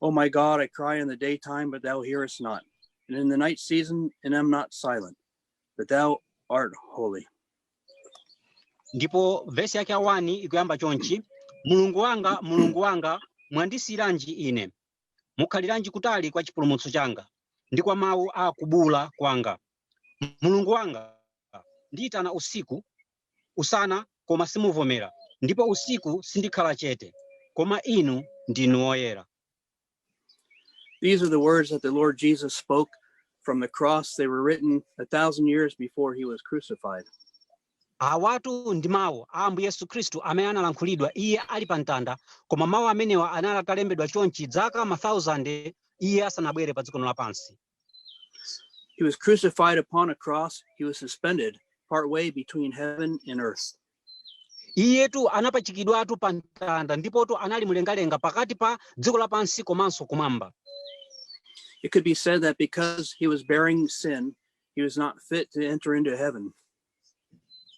Oh my God, I cry in the daytime, but thou hearest not. And in the night season, and am not silent, but thou art holy. ndipo vesi yake ya wani ikuyamba chonchi mulungu wanga mulungu wanga mwandisiyiranji ine mukhaliranji kutali kwa chipulumutso changa ndi kwa mawu a kubuula kwanga mulungu wanga ndiyitana usiku usana koma simuvomera, ndipo usiku sindikhala chete, koma Inu ndinu woyera. These are the words that the Lord Jesus spoke from the cross. They were written a thousand years before he was crucified. Awatu ndi mawu a Ambuye Yesu Khristu amene analankhulidwa iye ali pa mtanda, koma mawu amenewa anali atalembedwa chonchi zaka ma thousand iye asanabwere pa dziko lapansi. He was crucified upon a cross. He was suspended partway between heaven and earth. iyetu anapachikidwatu pa mtanda ndipotu anali mlengalenga pakati pa dziko lapansi komanso kumwamba It could be said that because he was bearing sin, he was not fit to enter into heaven.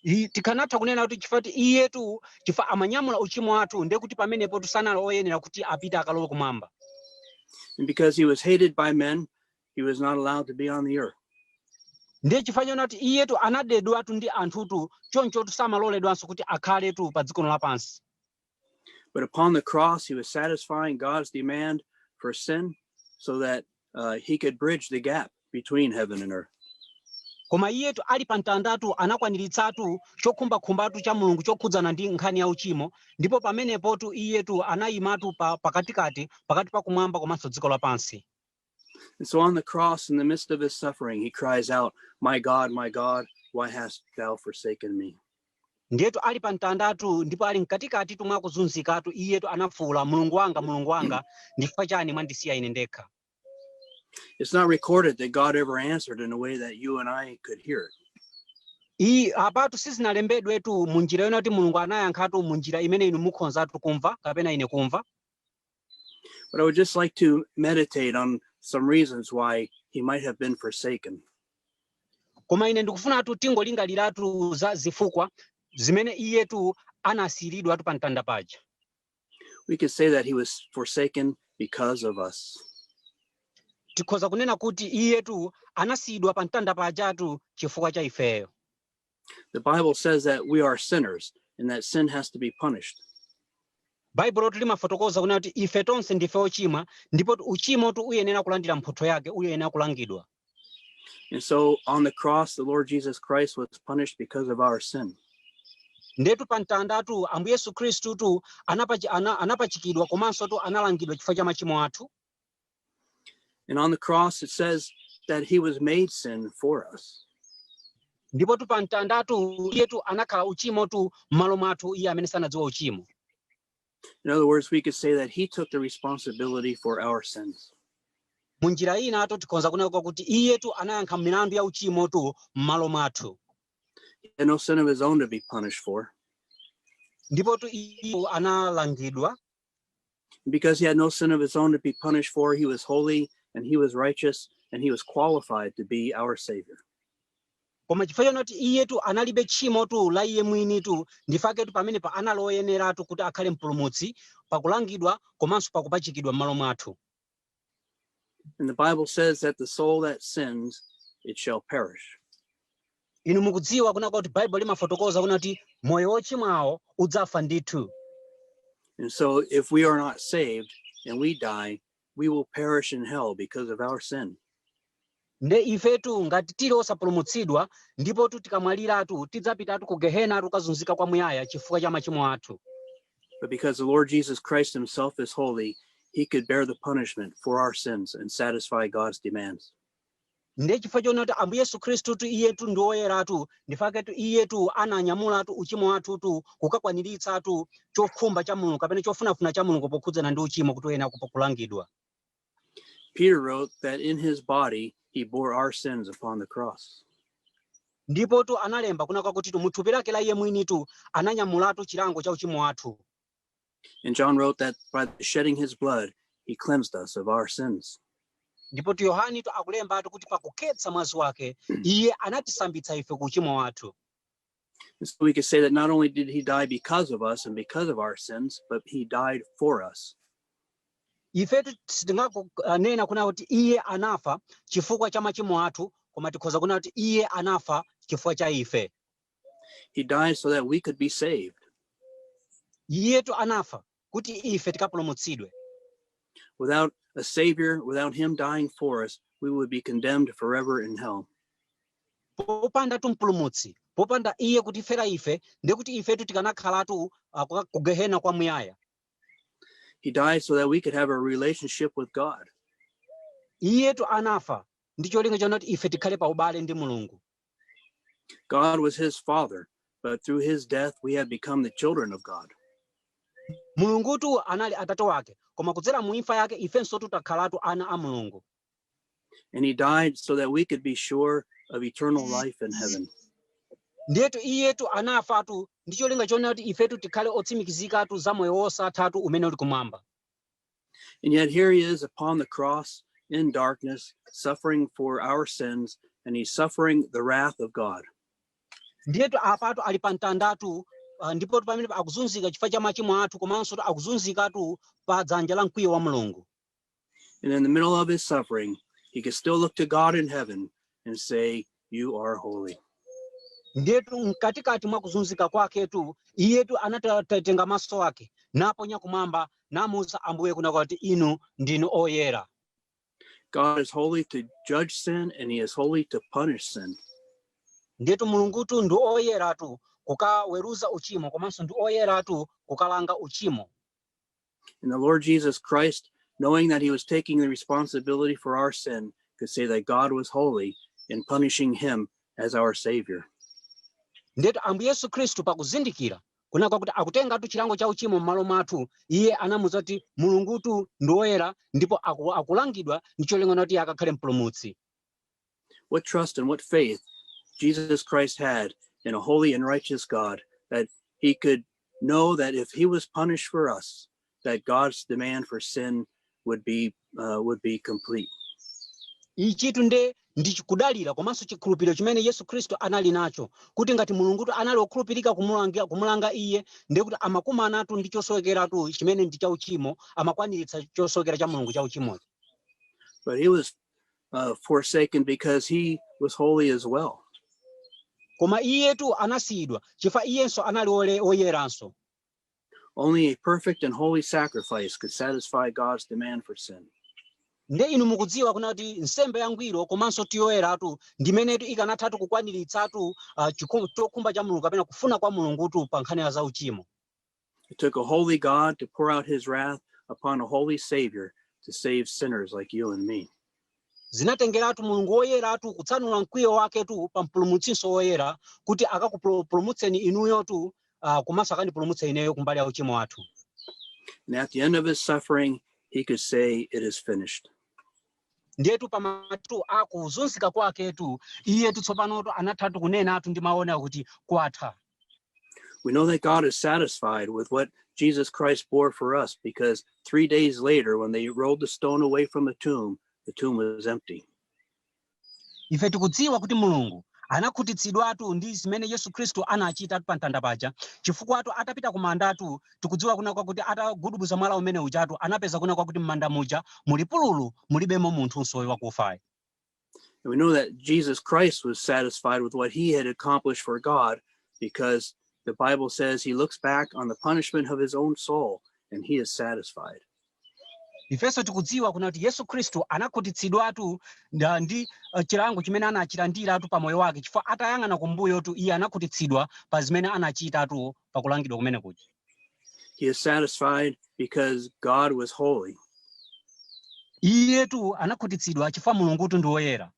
I- tikanatha kunena kuti chifukwa choti iyetu chifukwa amanyamula uchimo wathu ndiye kuti pamenepotu sanali oyenera kuti apite akalowe kumwamba And because he was hated by men, he was not allowed to be on the earth. ndiye chifukwa chonena kuti iyetu anadedwatu ndi anthutu chonchotu samaloledwanso kuti akhaletu pa dziko lapansi But upon the cross, he was satisfying God's demand for sin so that uh, he could bridge the gap between heaven and earth. koma iyetu ali pa mtandatu anakwaniritsatu chokhumbakhumbatu cha mulungu chokhudzana ndi nkhani ya uchimo ndipo pamenepotu iyetu anayimatu pa, pakatikati pakati pa kumwamba komanso dziko lapansi And so on the cross, in the midst of his suffering, he cries out, My God, my God, why hast thou forsaken me? ndiyetu ali pa mtandatu ndipo ali mkatikatitu mwa kuzunzikatu iyetu anafuwula mulungu wanga mulungu wanga ndifukwa chani mwandisiya ine ndekha It's not recorded that God ever answered in a way that you and I could hear it. iyi apatu sizinalembedwetu mu njira yonena kuti mulungu anayankhatu mu njira imene inu mukhonzatu kumva kapena ine kumva But I would just like to meditate on some reasons why he might have been forsaken. koma ine ndikufunatu tingolingaliratu za zifukwa zimene iyetu anasiyiridwatu pa mtanda paja We could say that he was forsaken because of us. tikhoza kunena kuti iyetu anasiyidwa pa mtanda pajatu chifukwa cha ifeyo The Bible says that we are sinners and that sin has to be punished. baibulotu limafotokoza kunena kuti ife tonse ndife ochimwa ndipotu uchimotu uyenera kulandira mphotho yake uyenera kulangidwa And so on the cross, the Lord Jesus Christ was punished because of our sin. ndetu pa mtandatu ambuye yesu khristutu anapachi- ana- anapachikidwa komansotu analangidwa chifukwa cha machimo athu And on the cross, it says that he was made sin for us. ndipotu pa mtandatu iyetu anakhala uchimotu m'malo mwathu iye amene sanadziwa uchimo In other words, we could say that he took the responsibility for our sins. mu njira inatu tikhonza kunena kwakuti iyetu anayankha milandu ya uchimotu m'malo mwathu He had no sin of his own to be punished for. ndipotu iye analangidwa Because he had no sin of his own to be punished for, he was holy and he was righteous and he was qualified to be our Savior. koma chifukwa chonoti iyetu analibe tchimotu la iye mwinitu ndifaketu pamenepo anali woyeneratu kuti akhale mpulumutsi pakulangidwa komanso pakupachikidwa m'malo mwathu And the Bible says that the soul that sins, it shall perish. inu mukudziwa kunena kwakuti baibulo limafotokoza kunena kuti moyo wochimwawo udzafa ndithu And so if we are not saved and we die, we will perish in hell because of our sin. Nde ifetu ngati tili osapulumutsidwa, ndipotu tikamwaliratu tidzapitatu ku Gehenatu kukazunzika kwa muyaya chifukwa cha machimo athu. But because the Lord Jesus Christ himself is holy, he could bear the punishment for our sins and satisfy God's demands. Nde chifukwa chona kuti Ambuye Yesu Khristutu iyetu ndi woyeratu, ndifaketu iyetu ananyamulatu uchimo wathutu kukakwaniritsatu chokhumba cha Mulungu kapena chofunafuna cha Mulungu pokhudzana ndi uchimo kuti uyenera kupo- kulangidwa. Peter wrote that in his body he bore our sins upon the cross. ndipotu analemba kunena kwakutitu mu thupi lake la iye mwinitu ananyamulatu chilango cha uchimo wathu And John wrote that by shedding his blood, he cleansed us of our sins. ndipotu yohanitu akulembatu kuti pakukhetsa mwazi wake iye anatisambitsa ife ku uchimo wathu And so we could say that not only did he die because of us and because of our sins, but he died for us. ifetu sitinganena kunena kuti iye anafa chifukwa cha machimo athu koma tikhoza kunena kuti iye anafa chifukwa cha ife He died so that we could be saved. iyetu anafa kuti ife tikapulumutsidwe Without a Savior, without Him dying for us, we would be condemned forever in hell. popandatu mpulumutsi popanda iye kutifera ife ndiye kuti ifetu tikanakhalatu ah, kuka- ku gehena kwamuyaya He died so that we could have a relationship with God. iyetu anafa ndi cholinga chonoti ife tikhale pa ubale ndi mulungu God was his father, but through his death we have become the children of God. mulungutu anali atate wake koma kudzera mu imfa yake ifenso tu takhalatu ana a mulungu And he died so that we could be sure of eternal life in heaven. ndiyetu iyetu anafatu ndi cholinga chonena kuti ifetu tikhale otsimikizikatu za moyo wosathatu umene uli kumwamba And yet here he is upon the cross in darkness, suffering for our sins, and he's suffering the wrath of God. ndiyetu apatu ali pa mtandatu ah, ndipotu pamene akuzunzika chifukwa cha machimo athu komanso akuzunzikatu pa dzanja la mkwiyo wa mulungu And in the middle of his suffering, he could still look to God in heaven and say, you are holy. ndetu mkatikati mwa kuzunzika kwaketu iyetu anatenga maso ake naponya kumwamba namuuza ambuye kunena kuti inu ndinu oyera God is holy to judge sin and he is holy to punish sin. ndetu mulungutu ndi oyeratu kukaweruza uchimo komanso ndi oyeratu kukalanga uchimo And the Lord Jesus Christ, knowing that he was taking the responsibility for our sin, could say that God was holy in punishing him as our Savior. ndetu ambuye yesu khristu pakuzindikira kunena kwakuti akutengatu chilango cha uchimo m'malo mwathu iye anamuuza kuti mulungutu ndi woyera ndipo aku, akulangidwa ndi cholinga kuti iye akakhale mpulumutsi What trust and what faith Jesus Christ had in a holy and righteous God that he could know that if he was punished for us, that God's demand for sin would be uh, would be complete. ichitu nde ndi chikudalira komanso chikhulupiriro chimene yesu khristu anali nacho kuti ngati mulungutu anali wokhulupirika kumulanga, kumulanga iye ndiye kuti amakumanatu ndi chosowekeratu chimene ndi chauchimo amakwaniritsa chosowekera cha mulungu chauchimocho But he was uh, forsaken because he was holy as well. koma iyetu anasiyidwa chifukwa iyenso anali ole- oyeranso Only a perfect and holy sacrifice could satisfy God's demand for sin. nde inu mukudziwa kunena kuti nsembe yangwiro komanso yoyeratu ndi imenetu ikanathatu kukwaniritsatu uh, chokhumba cha mulungu kapena kufuna kwa mulungutu pa nkhani ya zauchimo It took a holy God to pour out his wrath upon a holy Savior to save sinners like you and me. zinatengeratu mulungu woyeratu kutsanula mkwiyo waketu pa mpulumutsinso woyera kuti akakupulumutseni inuyotu uh, komanso akandipulumutse ineyo kumbali ya uchimo wathu And at the end of his suffering, he could say, It is finished. ndiyetu pamatu akuzunzika kwaketu iyetu tsopanotu anathatu kunenatu ndi mawu onena kuti kwatha We know that God is satisfied with what Jesus Christ bore for us because three days later, when they rolled the stone away from the tomb, the tomb was empty. ife tikudziwa kuti mulungu anakhutitsidwatu ndi zimene yesu khristu anachita pa mtanda paja chifukwatu atapita kumandatu tikudziwa kunena kwakuti atagudubuza mwala umene ujatu anapeza kunena kwakuti m'manda muja muli pululu mulibemo munthunso uyu wakufayo And we know that Jesus Christ was satisfied with what he had accomplished for God because the Bible says he looks back on the punishment of his own soul and he is satisfied. ifenso tikudziwa kunena kuti yesu khristu anakhutitsidwatu nda- ndi eh, chilango chimene anachilandiratu pa moyo wake chifukwa atayang'ana kumbuyotu iye anakhutitsidwa pa zimene anachitatu pa kulangidwa kumene kuja He is satisfied because God was holy. iyetu anakhutitsidwa chifukwa mulungutu ndi woyera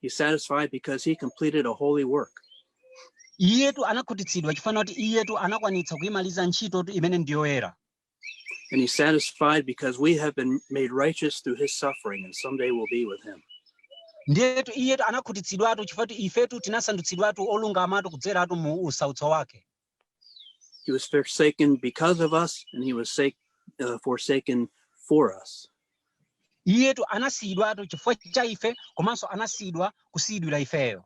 He's satisfied because he completed a holy work. iyetu anakhutitsidwa chifukwa kuti iyetu anakwanitsa kuimaliza ntchitotu imene ndi yoyera And he's satisfied because we have been made righteous through his suffering, and someday we'll be with him. ndiyetu iyetu anakhutitsidwatu chifukwa kuti ifetu tinasandutsidwatu olungamatu kudzeratu mu usautso wake He was forsaken because of us, and he was sake, uh, forsaken for us. iyetu anasiyidwatu chifukwa cha ife komanso anasiyidwa kusiyidwira ifeyo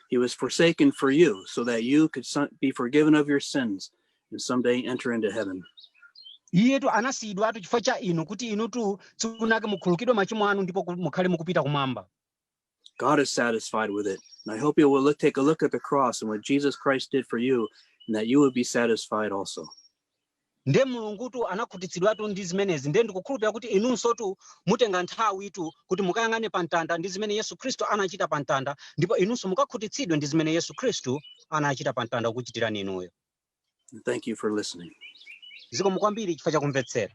He was forsaken for you, so that you could some- be forgiven of your sins and someday enter into heaven. iyetu anasiyidwatu chifukwa cha inu kuti inutu tsiku lina lake mukhululukidwe machimo anu ndipo ku- mukhale mukupita kumwamba God is satisfied with it. And I hope you will look, take a look at the cross and what Jesus Christ did for you, and that you would be satisfied also. Ndiye Mulungutu anakhutitsidwatu ndi zimenezi, ndiye ndikukhulupirira kuti inunsotu mutenga nthawitu kuti mukayang'ane pa mtanda ndi zimene Yesu Khristu anachita pa mtanda ndipo inunso mukakhutitsidwe ndi zimene Yesu Khristu anachita pa mtanda kukuchitirani inuyo. And thank you for listening. Zikomo kwambiri chifukwa cha kumvetsera.